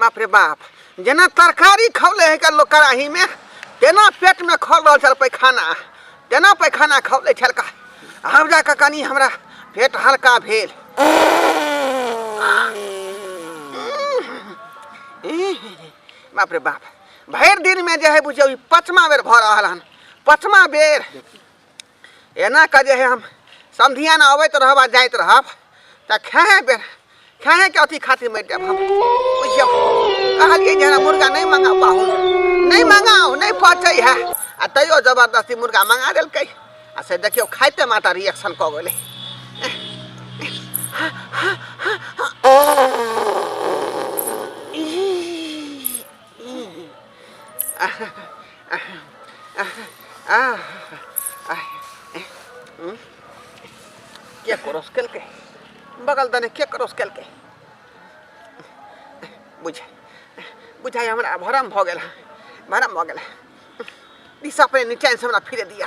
बाप रे बाप जेना तरकारी खौले है लोग कड़ाही में तेना पेट में खौल रहा छल पैखाना तेना पैखाना खौले छल का आब जा कऽ कनि हमरा पेट हल्का भेल बाप रे बाप भरि दिनमे जे हइ बुझियौ ई पचमा बेर भऽ रहल हन पचमा बेर एना कऽ जे हइ हम संधिया ने अबैत रहब आ जाइत रहब तऽ खेहे बेर खेहेके अथी खातिर मरि जायब हम बुझियौ कहलियै जे मुर्गा नहि मंगा पाहु नहि मंगाउ नहि पचै है आ तैयो जबरदस्ती मुर्गा मंगा देलकै आ से देखियौ खाइते माता रिएक्शन कऽ गेलै क्या करो स्केल के बगल दने क्या करो स्केल के बुझे बुझाई हमरा भरम भऽ गेल भरम भऽ गेल दिशा पे नीचे से हमरा फिरे दिया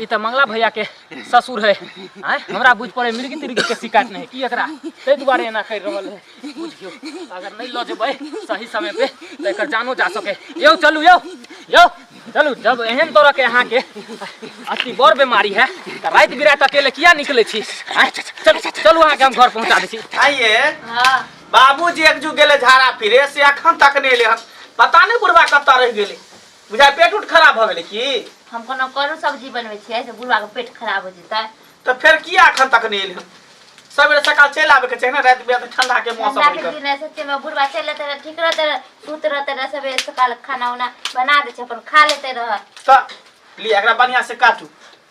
ई तऽ मंगला भैया के ससुर है आय हमरा बुझ पड़े मिर्गी तिर्गी के शिकायत नहीं की एकरा ताहि दुआरे एना कर रहल है बुझियो अगर नहीं लऽ जेबै सही समय पे तऽ एकर जानो जा सके यौ चलू यौ यौ चलू जब एहन तरह के अहाँ के अति बड़ बीमारी है तऽ राति बिराति अकेले किया निकले छी आय, चलू चलू अहाँके हम घर पहुँचा दै छी आइए हाँ बाबूजी एक जू गेले झाड़ा फिरे से अखन तक नहीं एले हन पता नहीं बुढ़वा कत्ता रह गेले बुझाइ पेट उट खराब भऽ गेलै की हम कोनो करू सब्जी बनबै छियै से बुढ़वा के पेट खराब हो जेतै तऽ फेर किया एखन तक नहि एलै सबेरे सकाल चलि आबे के चाही ने राति बिराति ठंडा के मौसम ठंडा के रहै दिन है सच्चे में बुढ़वा चल रहते रहे ठीक रहते रहे सूत रहते रहे सबेरे सकाल खाना उना बना दे छै अपन खा लेते रहे तऽ लिअ एकरा बढ़िया से काटू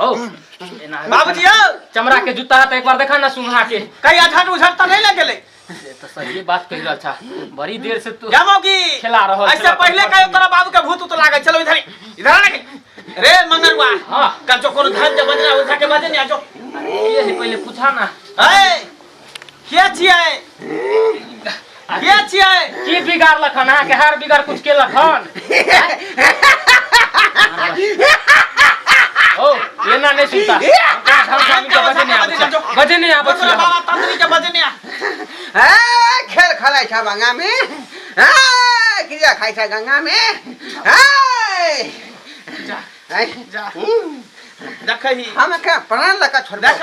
हो एना है। बाबूजी यौ चमड़ा के जूता है तो एक बार देखा ना सुंघा के कहिया झट उझट तऽ नहि लग गेलै ये तो सही बात कही रहल छा बड़ी देर से तू जामो की खेला रहल ऐसे छला, पहिले तू कहियो बात तोरा बाबू के भूत उत लागल चलो इधर ही, इधर आ रे रे मंगरुआ हाँ। कल जो कोनो धन के बजना उठा के बजे नहीं आ जो अरे ये है पहले पूछा ना ए के छियै के छियै की बिगाड़ लखन अहाँ के हार बिगाड़ कुछ के लखन ओ ये ना नहीं सुनता बजे नहीं आबत तोरा बाबा तंत्री के बजे नहीं आ खेल खलाइ छ गङ्गामे क्रिया खाइ छ गङ्गामे जा जा देखै हम कहाँ प्राण लगा छोड़ देख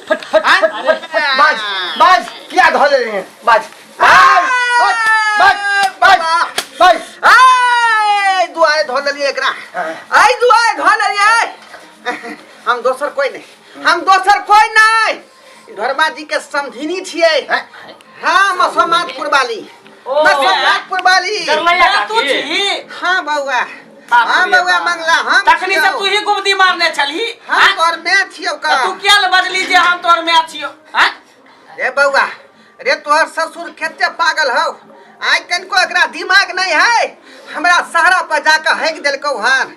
फट फट आय, फट अरे, फट बाज बाज क्या धो ले रहे हैं बाज बाज बाज बाज बाज आय दुआरे धो लेलिए एकरा आय दुआरे धो लेलिए हम दोसर कोई नहीं हम दोसर कोई नहीं ई धर्मा जी के समधिनी छिए हाँ मसोमातपुर वाली ओ, मसोमातपुर वाली करलैया तू काकी छी हाँ बउआ बाप रे हम बउआ बाप। मंगला हम तखनी छियौ। तऽ तू ही गुमती मारने छलही हम आँय? तोर माय छियौ का तऽ तू किया ले बजली जे हम तोर माय छियो आँय? रे बउआ रे तोहर ससुर कते पागल हौ आइ कनिको एकरा दिमाग नहीं है हमरा सहरा पर जाके हैक देलकौ हन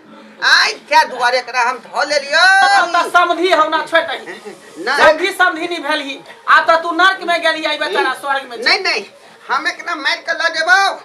आइ क्या दुआरे एकरा हम धो लेलियो आब तऽ समधी हमरा छोड़ दही नहीं समधी समधी नहीं भेलही आब तऽ तू नर्क में गेली आई बेचारा स्वर्ग में छी। नहीं नहीं हम एकरा मार के लऽ जेबौ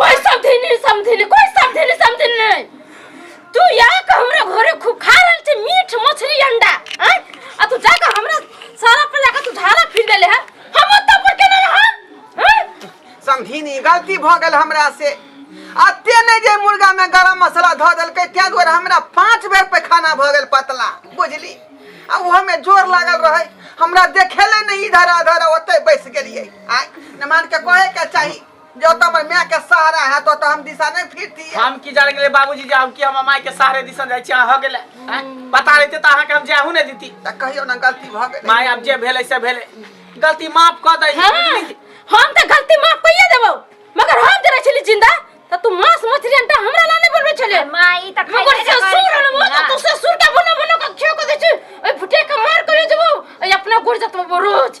कोई समझे नहीं समझे नहीं कोई समझे नहीं समझे नहीं तू यहाँ का हमरा घरे खूब खा रहल छे मीठ मछली अंडा हैं आ तू जाके हमरा सारा पे जाके तू झाड़ा फिर देले है हम ओत्ता पर केना रहब हैं समझीनी गलती भ गेल हमरा से अते नहि जे मुर्गा में गरम मसाला धऽ देलकै ताहि दुआरे हमरा पाँच बेर पैखाना भऽ गेल पतला बुझली आ ओहोमे जोर लागल रहै हमरा देखेले नहि इधर अधर ओतै बैस गेलियै आइ नमान के कहे के चाही जो तो हमर माय के सहारा है तो तो हम दिशा नहीं फिरती हम की जाने गेले बाबूजी जे हम की हम माय के सहारे दिसन जाय छी अहाँ हो गेले आँय? पता रहते त अहाँ के हम जाहू नहीं दीती त कहियो ना गलती भ गेल माय अब जे भेले से भेले गलती माफ क दई हाँ, हम तो गलती माफ कइए देबो मगर हम जरा छली जिंदा त तू मांस मछली अंडा हमरा ला नहीं बनबे छले माई त मगर खाइले से सुर न मो तू से सुर का बनो बनो का खेओ को दे छी ओइ फुटे का मार कइए देबो ओइ अपना गुड़ जतबो रोज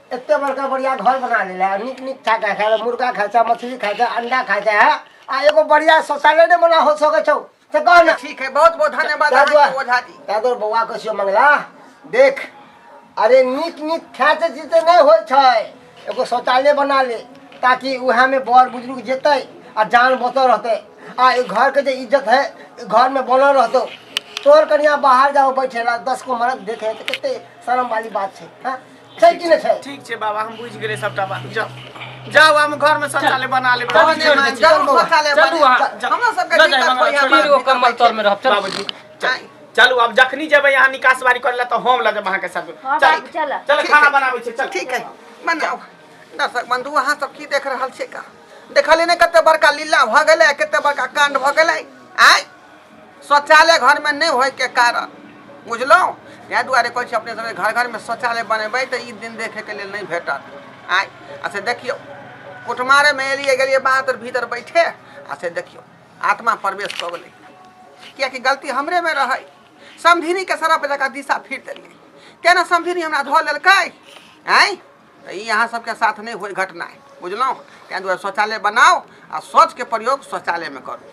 एते बड़का बढ़िया घर बना ले है निक निक खा खा खा मुर्गा खा खा मछली खा खा अंडा खा खा है आ एगो बढ़िया शौचालय ने बना हो सके छौ से कह ना ठीक है बहुत बहुत धन्यवाद दादू अहाँके ओझा जी दादू बौआ के छियो मंगला देख अरे निक निक खा से जीते नहीं होय छै एगो शौचालय बना ले ताकि उहे में बड़ बुजुर्ग जेतै आ जान बचल रहतै आ ई घर के जे इज्जत है ई घर में बनल रहतौ तोर कनिया बाहर जाओ बैठे ला दस को मरद देखे है तो कते शर्म वाली बात छै हाँ छै कि नहि छै ठीक छै बाबा हम बुझि गेलियै सबटा बात जाउ जाउ हम घर में शौचालय बना लेबै चलू, बाबा, छोड़ि दै छी। जरूर शौचालय चलू बने। अहाँ, जा- हमरा सबके जा, जा, दिक्कत हमरा होइया, छोड़ि बाबा, दियौ, दिक्कत कम्बल होइया। तर में रहब, चलू। बाबूजी चल- चलू आब जखनी जेबै अहाँ निकास बारी करे लए तऽ हम लऽ जायब अहाँके साथ हाँ, चल बाबू, चलऽ। चल ठीक खाना है। बनाबै छै चल ठीक है बनाओ दर्शक बंधु अहाँ सब की देख रहल छियै का देखलियै ने कते बड़का लीला भऽ गेलै कते बड़का कांड भऽ गेलै आय शौचालय घरमे नहि होइके कारण बुझलहुँ इएह दुआरे कहै छी अपने सबके घर घरमे शौचालय बनेबै तऽ ई दिन देखैके लेल नहि भेटत आइ आ से देखियौ कुटमारेमे एलियै गेलियै बाहर भीतर बैठे आ से देखियौ आत्मा प्रवेश कऽ गेलै किएकि गलती हमरेमे रहै समधिनीके सरफ जकाँ दिशा फिर देलियै केना समधिनी हमरा धऽ लेलकै आँय तऽ ई अहाँ सबके साथ नहि होइ घटना बुझलहुँ ताहि दुआरे शौचालय बनाउ आ शौचके प्रयोग शौचालयमे करू